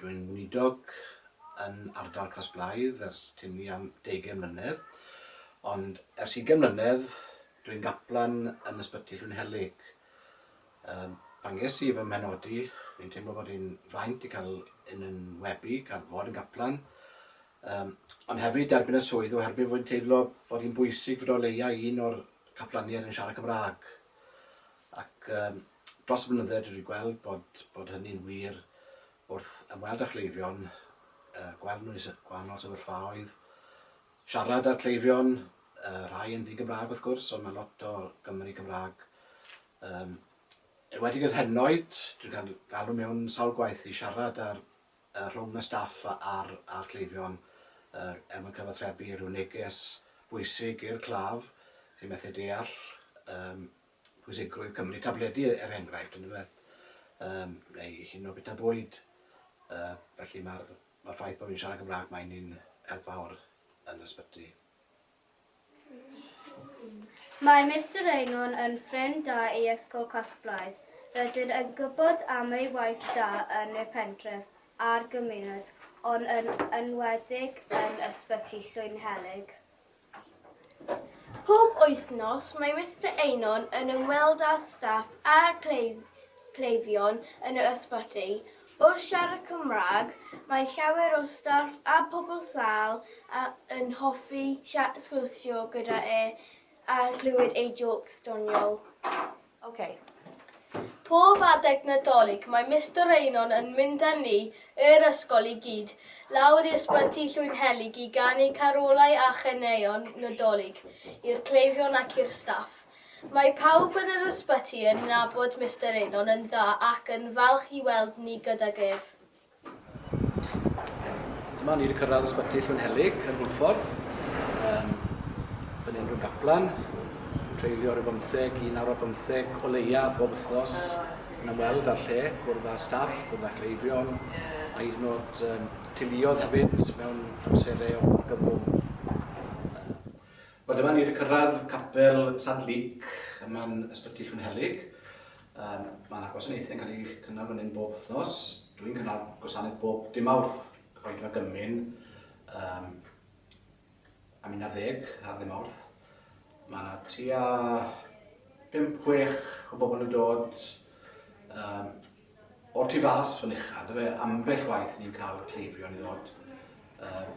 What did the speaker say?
Dwi'n weinidog yn ardal Casblaidd ers tynnu am deugain mlynedd, ond ers ugain mlynedd dwi'n gaplan yn Ysbyty Llwynhelyg. Yym, pan ges i fy mhenodi, o'n i'n teimlo bod hi'n fraint i cael yn 'yn webu, cael fod yn gaplan, Yym, ond hefyd i derbyn y swydd oherwydd fod hi'n teimlo fod hi'n bwysig fod o leia un o'r caplaniaid yn siarad Cymraeg. Ac yym, dros y blynydde dwi wedi gweld bod bod hynny'n wir wrth ymweld â chleifion, yy gweld nhw yn gwahanol sefyllfaoedd, siarad â'r cleifion, yy rhai yn ddi-Gymraeg wrth gwrs, ond mae lot o Gymry Cymraeg. Yym, enwedig yr henoed, dwi'n cael galw mewn sawl gwaith i siarad â'r rhwng y staff a'r cleifion er mwyn cyfathrebu rhyw neges bwysig i'r claf sy'n methu deall pwysigrwydd cymryd tabledi er enghraifft yndyfe neu hyd yn oed bwyta bwyd felly mae'r ffaith bod fi'n siarad Cymraeg mae'n un help fawr yn yr ysbyty. Mae Mister Eynon yn ffrind da i Ysgol Casglaidd. Rydyn yn gwybod am ei waith da yn y pentref a'r gymuned, ond yn enwedig yn Ysbyty Llwynhelyg. Pob wythnos mae Mister Eynon yn ymweld â staff a'r cleifion yn yr ysbyty, Wrth siarad Cymraeg, mae llawer o staff a phobl sâl yn hoffi sgwrsio gyda e a chlywed ei jôcs doniol. Ok. Pob adeg Nadolig mae Mister Einon yn mynd â ni, yr ysgol i gyd, lawr i Ysbyty Llwynhelyg i ganu carolau a chaneuon Nadolig i'r cleifion ac i'r staff. Mae pawb yn yr ysbyty yn nabod Mister Eynon yn dda ac yn falch i weld ni gydag ef. Dyma ni 'di cyrraedd ysbyty Llwynhelyg yn Hwlffordd. Um, Bydd unrhyw gaplan yn treulio rhyw bymtheg, un awr a bymtheg o leia bob wythnos yn ymweld â'r lle, gwrdd â staff, gwrdd â cleifion, a hyd yn oed um, teuluodd hefyd mewn amserau o argyfwng. Wel, dyma ni wedi cyrraedd capel Sant Luc ym man Ysbyty Llwynhelyg. Um, Mae yna gwasanaethau'n cael eu cynnal fan hyn bob wythnos. Dwi'n cynnal gwasanaeth bob dim awrth, rhaid fe gymyn, um, am un ar ddeg ar ddim awrth. Mae yna tua 5-6 o bobl yn dod um, o'r tu fas fan uchel. Dyfe ambell waith ni'n cael cleifion i ddod um,